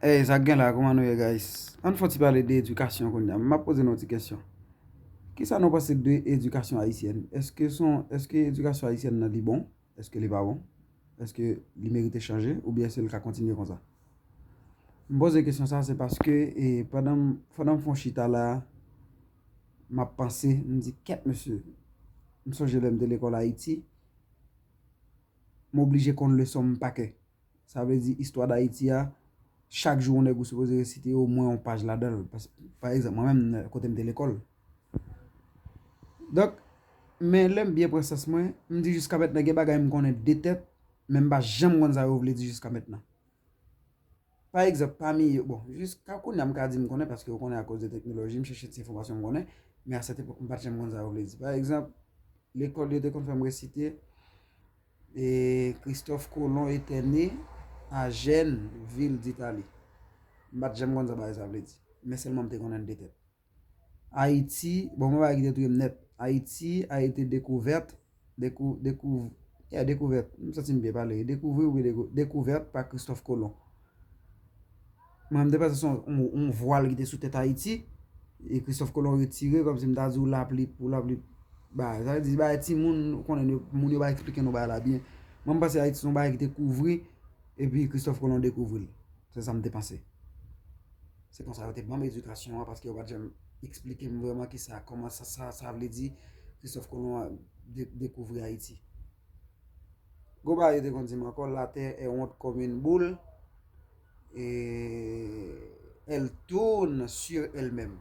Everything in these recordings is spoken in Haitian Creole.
Hey sa gen la kouman nou ye guys ann fon ti pale de edikasyon kounya map poze nou ti kesyon kisa nou panse de edikasyon ayisyèn eske son eske edikasyon ayisyèn nan li bon eske li pa bon eske li merite chanje oubyen eske li ka kontinye konsa m poze kesyon sa se paske e pandan pandan m fon chita la map panse m di ket mesye m sonje lèm te lekòl ayiti m oblije konn leson m pa kè Sa vle di istwa Dayiti a, chak jou yon nèg ou sipoze resite omwen yon paj ladan l. Pa egzanp, mwen menm kote m te lekòl. Donk, men lè m byen pran sans mwen, m di jiska mètnan gen bagay m konnen de tèt, men m pa janm konn sa yo vle di jiska mètnan. Pa egzanp, pami yo, bon, jiska kounye a m ka di m konnen paske ou konnen akoz de teknoloji, m chèche ti enfòmasyon m konnen, men a sèt epòk m pa t janm konn sa yo vle di. Pa egzanp, lekòl yo te konn fè m resite. Christophe Colomb était né à Gênes, ville d'Italie. M pa t janm konn sa bagay sa vle di. Men sèlman m te konnen l de tèt. Ayiti, bon mwen pa wè ki te touye m nèt. Ayiti a ete dekouvèt, dekouv, yeah dekouvèt, m santi m byen pale wi, dekouvri oubyen dekouvèt pa Christophe Colomb. Mwen m te panse se yon vwal ki te sou tèt Ayiti, e Christophe Colomb retire, kòm si m ta di w lapli pou lapli bay. Sa vle di se bagay ti moun nou konnen, moun yo pa eksplike nou bagay la byen. Mwen m panse Ayiti se yon bagay ki te kouvri, epi Christophe Colomb dekouvri l. Se sa m te panse. Se konsa yo te ban m edikasyon an, paske yo pa t janm eksplike m vreman ki sa, kòman sa, sa vle di Christophe Colomb dekouvri Ayiti. Goba yo te konn di m ankò la terre est ronde comme une boule et elle tourne sur elle même.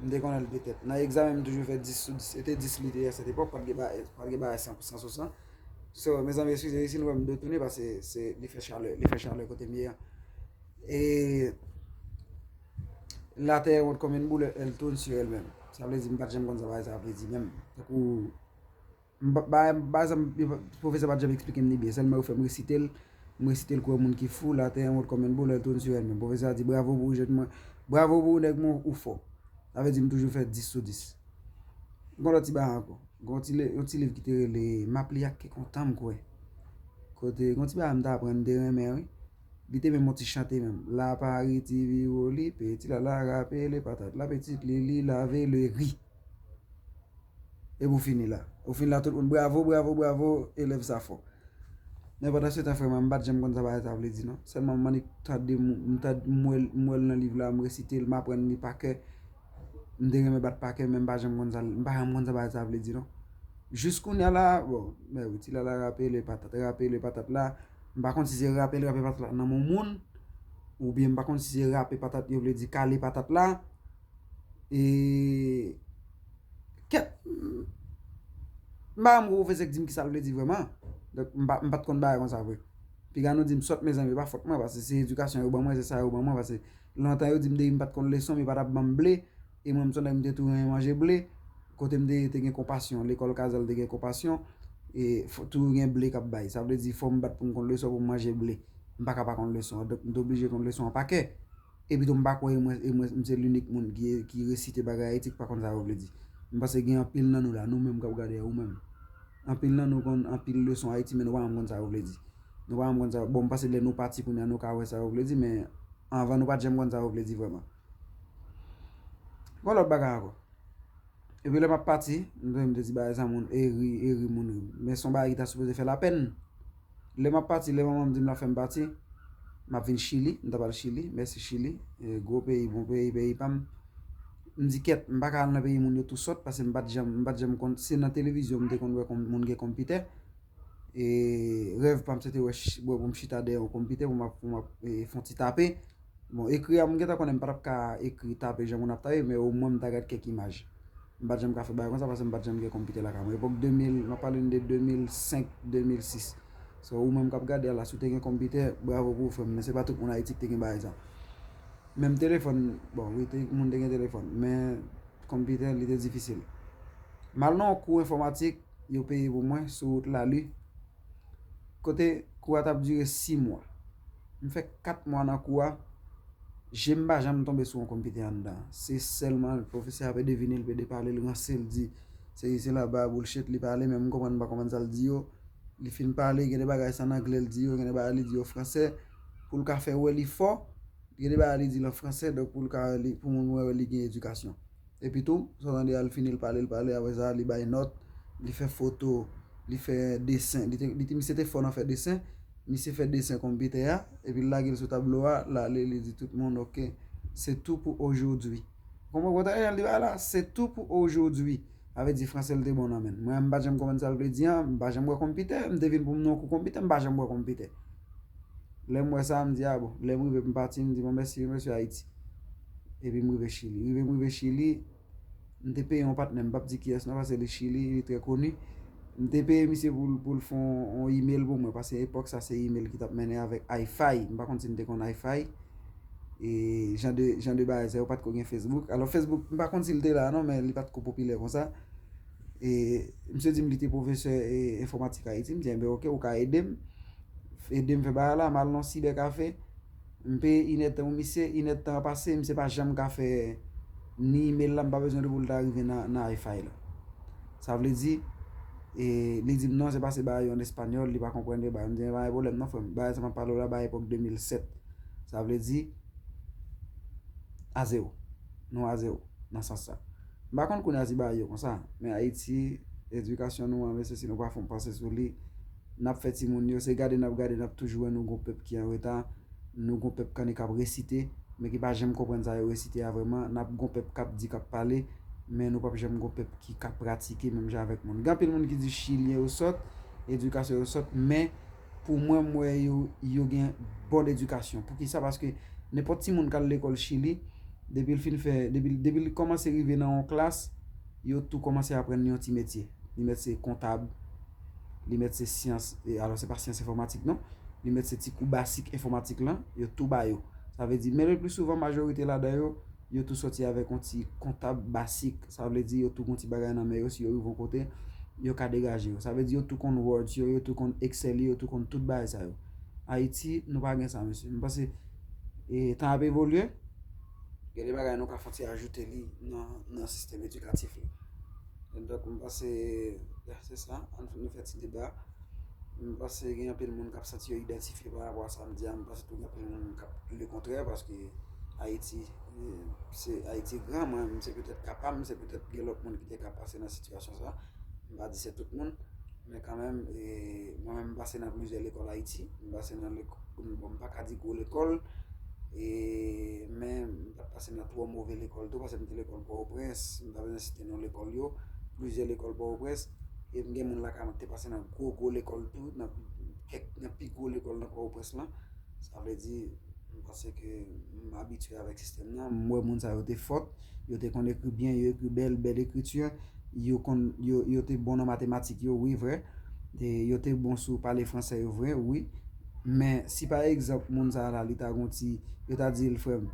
M te konnen li te tèt. Nan egzamen m toujou fè 10 sou 10. E te 10 li te a sèt epòk, pa t gen bagay 100 pou 100 sou 100. So, mezanmi eskize si nou wè m dwe tounen pase se li fè chalè, li fè chalè kote m ye a. E la terre est ronde comme une boule et elle tourne sur elle même. Sa vle di m pa t janm konn sa bagay sa a vle di menm. Pwofesè pa t janm esplike m li byen, sèlman yo fè m resite l, m resite l kou yon moun ki fou, La terre est ronde comme un bol, elle tourne sur elle-même. Pwofesè a di, Bravo pou ou jèn mwen, bravo pou ou nèg mwen, ou fò. Sa vle di m toujou fè 10 sou 10. M gen lòt ti bagay ankò. Gen yon ti liv ki te rele M ap li ak kè kontan m kwè. Kote, gen yon ti bagay m te aprann, m te renmen wi. Li te menm yon ti chante menm, La Paris ti viwoli, peti lala rapele patat la, pitit li li lave le ri. Epi ou fini la. Ou fini la tout moun bravo, bravo, bravo, elèv sa fò. Men pandan se tan frè mwen, m pa t janm konn sa bagay sa vle di non. Sèlman m annik tande, m tande, m wè l, m wè l nan liv la, m resite l, m aprann li pa kè. M te renmen bat pa kè men m pa janm konn sa l, m pa janm konn sa bagay sa vle di non. Jis kounya la, bon, mè wi ti lala rape le patat, rape le patat la. M pa konn si se rape l rape patat la nan moun moun. Oubyen m pa konn si se rape patat yo vle di kale patat la. E kèt m pa renmen pwofesè k di m ki sa l vle di vrèman donk m pa t konn bagay kon sa vre piga nou di m sòt mezanmi e pa fòt mwen paske se edikasyon yo ban mwen se sa yo ban mwen paske lontan yo di m depi m pa t konn leson m yo pa t ap ban m ble e mwen m son nèg m te tou renmen manje ble kote m te ye te gen konpasyon lekòl kazèl te gen konpasyon e fò toujou gen ble k ap bay sa vle di fò m bat pou m konn leson pou m manje ble m pa ka pa konn leson an donk m te oblije konn leson an pa kè Epito m pa kwè e mwen e mwen m se linik moun ki ki resite bagay Ayiti ki pa konn sa yo vle di. M panse gen anpil nan nou la, nou menm k ap gade a, ou menm. Anpil nan nou konn anpil leson Ayiti men nou pa janm konn sa yo vle di. Nou pa janm konn sa yo, bon m panse lè nou pati kounye a nou ka wè sa yo vle di men anvan nou pa t janm konn sa yo vle di vrèman. Yon lòt bagay ankò, epi lè m ap pati, m te di bagay sa moun e ri e ri moun ri. Men s on bagay ki ta sipoze fè lapèn. Lè map pati, lè manmanm dim lap fèm pati, map vin chili, m tap al chili, mèsi chili, gwo peyi, bon peyi, peyi pam, m di kèt, m paka al nan peyi moun yo tou sòt, pase m pat janm, m pat janm konn, se nan televizyon m te konn wè moun gen konpitè, e rèv pam se te wè, wè pou m chita dèyè yon konpitè pou map, pou map fon ti tape. Bon ekri a m gentan konnen m pa tap ka ekri tape jan moun ap tape men omwen m ta gad kèk imaj. M pat janm ka fè bagay konsa paske m pat janm gen konpitè lakay mwen. Epòk 2000, m ap pale n de 2005, 2006. So ou menm k ap gade a la si w te gen konpitè, bravo pou ou frè m men se pa tout moun Ayiti ki te gen bagay sa. Menm telefòn, bon wi moun te gen telefòn men konpitè li te difisil. M al nan yon kou enfòmatik yo peye pou mwen sou wout Lalu. Kote kou a tap dire 6 mwa. M fè 4 mwa nan kou a, je m pa janm tonbe sou yon konpitè anndan. Se sèlman pwofesè a ap devine, l ap ede pale, l ranse, l di sesi sela, ba boulchet li pale men m konprann m pa konprann sa l di yo. Li fin pale, gen de bagay se ann angle l di yo, gen de bagay li di yo an franse pou l ka fè wè li fò, gen de bagay li di l an franse pou moun wè li gen edikasyon. Epi tou, sa w tande a, l fini l pale, l pale, apre sa li bay nòt, li fè foto, li fè desen, li te, misye te fò nan fè desen, misye fè desen konpitè a, epi l lage l sou tablo a, l ale li di tout moun ok, se tou pou ojodwi. Ou konpran kote Ariel di bagay la a? Se tou pou ojodwi. Sa vle di franse l te bon nan men l. Mwen menm m pa janm konprann sa l vle di an, m pa janm wè konpitè, m te vin pou m nan yon kou konpitè, m pa janm wè konpitè. Lè m wè sa a, m di a bon, lè m rive pou m pati, m di bon mèsi yo mesye Ayiti. epi m rive chili rive m rive chili m te peye yon patnè m pap di kiyès non paske li chili li trè koni m te peye misye pou l fè yon email pou mwen paske epòk sa se email ki tap mennen avèk Hi-Fi m pa konn si nou te konn Hi-Fi e jan de jan de bagay sa yo pat ko gen Facebook alò Facebook m pa konn si l te la non men li pat ko popilè konsa e misye di m li te pwofesè e enfòmatik Ayiti m di enben ok ou ka ede m ede m fè bagay la m al nan yon sibèkafe M peye inè tan wi misye, inè tan an pase misye pa janm ka fè ni email la m pa bezwen li pou l ta rive nan Hi-Fi la. Sa vle di, li di m non se pa se bagay yo an español li pa konprann vye bagay. M di men pa gen pwoblèm non frè m, bagay sa m ap pale w la bagay epòk 2007. Sa vle di, a zewo, nou a zewo nan sans sa. M pa konn kounye a si bagay yo konsa, men Ayiti, edikasyon nou an mesye si nou pa fon panse sou li, n ap fè timoun yo, se gade n ap gade n ap toujou wè nou gon pèp ki an reta, nou gon pèp kanni k ap resite, men ki pa janm konprann sa yo resite a vrèman, n ap gon pèp k ap di, k ap pale, men nou p ap janm gon pèp ki ka pratike menm jan avèk moun. Gen anpil moun ki di chilyen yo sòt, edikasyon yo sòt, men pou mwen m wè yo, yo gen bon edikasyon. Pou ki sa? Paske nenpòt timoun k al lekòl chili, depi l fin fè, depi l, depi l kòmanse rive nan yon klas, yo tou kòmanse aprann li yon ti metye. Li mèt se kontab. li mèt se syans, alò se pa syans enfòmatik non, li mèt se ti kou basik enfòmatik lan, yo tou ba yo. Sa vle di, men le pli souvan majorite ladan yo, yo tou soti avèk yon ti kontab basik. Sa vle di yo tou gon ti bagay nan men yo, si yo rive yon kote, yo ka degaje yo. Sa vle di yo tou konn Words yo, yo tou konn Excel yo, yo tou konn tout bagay sa yo. Ayiti, nou pa gen sa mesye. M panse, e tan ap evolye, gen de bagay nou ka fon ti ajoute li nan sistèm edikatif yo. Donk m panse ya se sa, an nou fè ti deba. M panse gen anpil moun k ap santi yo idantifye pa rapò a sa m di a. M panse tou gen anpil moun k ap di le kontrè paske Ayiti se Ayiti gran. Mwen menm se petèt ka pa m, se petèt gen lòt moun ki te ka pase nan sitiyasyon sa. M pa di se tout moun. Men kanmenm, mwen menm m pase nan plizyè lekòl Ayiti. M pase nan lekòl, bon m pa ka di gwo lekòl e men. T ap pase nan twò move lekòl tou paske m te lekòl Pòtoprens, m pa bezwen site non lekòl yo, plizyè lekòl Pòtoprens. E m gen moun lakay mwen ki te pase nan gwo gwo lekòl tou, nan kèk nan pi gwo lekòl nan Pòtoprens lan. Sa vle di, m panse ke m abitye avèk sistèm nan. M wè moun sa yo te fòt, yo te konn ekri byen, yo ekri bèl, bèl ekriti. Yo konn yo te bon nan matematik yo wi vrè e yo te bon sou pale fransè yo vre wi men si pa egzanp moun sa la li ta gon ti yo ta di l frè m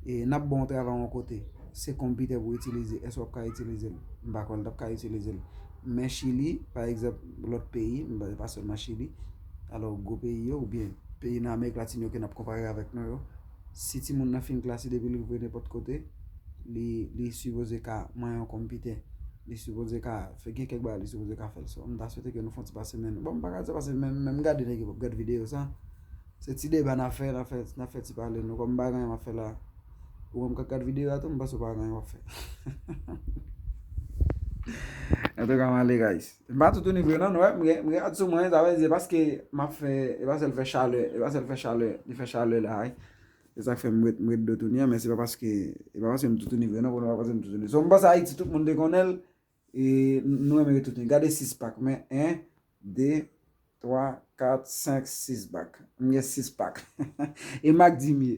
e n ap ba w yon travay yon kote se konpitè pou w itilize èske w ap ka itilize l m pa kwè l t ap ka itilize l men chili pa egzanp lòt peyi m pa sèlman chili alò gwo peyi yo oubyen peyi nan amerik latin yo ke n ap konpare avèk nou yo si ti moun nan fin klase depi li vwe nenpòt kote li sipoze ka manyen yon konpitè li sipoze ka fè gen kèk bagay li sipoze ka fè so m ta swete ke nou fon ti pase men bon m pa ka di sa pase men men m gade nèg yo m ap gad videyo sa se ti deba n ap fè n ap fè ti pale nou kòm m pa gen anyen m ap fè la ou menm k ap gad videyo a tou m panse ou pa gen anyen w ap fè entouka m ale guys. M pa toutouni vre nan, nou wè, m gen, m gen rad sou mwen, sa vle di se paske m ap fè, e pa sèl fè chalè, e pa sèl fè chalè, li fè chalè la a, se sa k fè m ret, m ret dlo touni an, men se pa paske, e pa paske m toutouni vre nan, konnen pa paske m toutouni. So m panse Ayiti tout moun te konnen l, e nou renmen ret toutouni. Gade 6 pak mwen, 1, 2, 3, 4, 5, 6 bak. M gen 6 pak. E m ak Dimye.